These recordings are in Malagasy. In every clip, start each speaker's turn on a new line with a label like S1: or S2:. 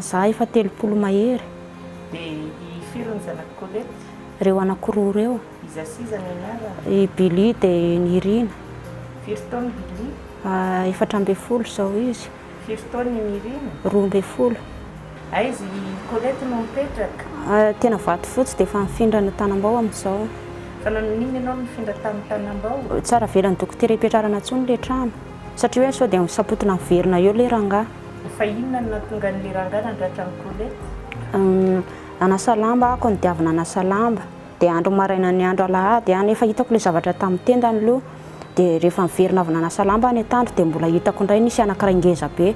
S1: Za
S2: efa telopolo mahery. De
S1: i firy ny zanak'i Colette? Reo anako roa
S2: reo. Iza sy iza ny
S1: anarany? I Billy de
S2: i Nirina. Firy taona
S1: i Billy? Efatra ambin'ny
S2: folo zao izy. Firy taona i
S1: Nirina? Roa ambin'ny folo.
S2: Aiza
S1: i Colette no mipetraka? Tena Vatofotsy
S2: de efa nifindra any Tanambao amizao. Fa nanao inona
S1: ianao nifindra tany Tanambao? Tsy ara-velan'ny dokotera
S2: hipetrarana tsony le trano satria hoe sao de misapotina miverina eo le rangah. Fa
S1: inona no nahatonga an'ilay rangahy nandratra an'i Colette?
S2: Nanasa lamba aho, koa ny diavy nanasa lamba. Dia andro maraina ny andro alahady an, efa hitako ilay zavatra tamin'ny tendany aloha. Dia rehefa niverina avy nanasa lamba ny antandro dia mbola hitako indray nisy anankiray ngeza be.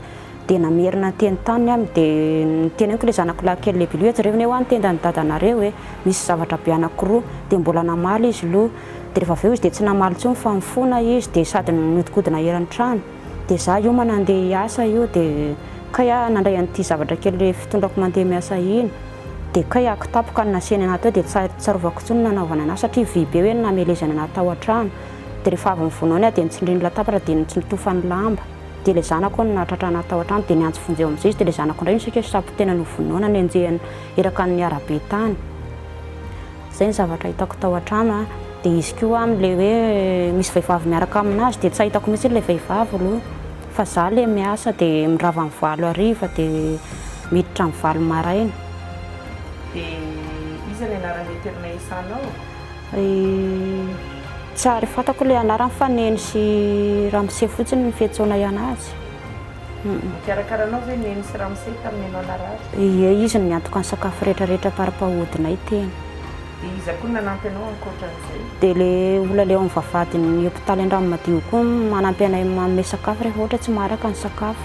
S2: Dia namerina niteny taminy aho, dia noteneniko ilay zanako lahy kely lehibe, hoe jereo anie hoa ny tendan'i dadanareo e, misy zavatra be anankiroa. Dia mbola namaly izy aloha. Dia rehefa avy eo izy dia tsy namaly intsony fa nifona izy, dia sady nihodinkodina eran'ny trano. Dia za hiomana handeha hiasa io dia kay aho nandray an'ity zavatra kely fitondrako mandeha miasa iny dia kay aho kitapoka ny nasehany anah teo dia tsy tsarovako intsony ny nanaovany anah satria vy be hoe ny namelezany anah tao an-trano dia rehefa avy nivonao ny ahy dia nitsindriny latabatra dia nitsintofany lamba dia ilay zanako hono nahatratra anah tao an-trano dia niantso vonjeo amin'izay izy dia ilay zanako indray no saika safo tena novonoina nenjehina eraka ny arabe tany Zay ny zavatra hitako tao an-trano a, dia izy koa aminy le hoe misy vehivavy miaraka aminazy dia tsy ahitako mihitsy ilay vehivavy aloha fa za le miasa dia mirava am valo hariva dia miditra am valo maraina.
S1: Dia iza ny anaran'ilay toerana isanao? I
S2: Tsy ary fantako ilay anarany fa Neny sy Ramose fotsiny ny fiantsoana ihany azy.
S1: Nikarakara anao ve Neny sy Ramose tamin'ny ianao narary? Ie, izy no niantoka
S2: ny sakafo rehetra rehetra par rapport hodinay tena. Dia iza
S1: koa no nanampy anao ankoatran'izay? Dia ilay
S2: olona ilay ao amin'ny vavahadin'ny hopitaly Andranomadio koa no manampy anay manome sakafo rehefa ohatra tsy maharaka ny sakafo.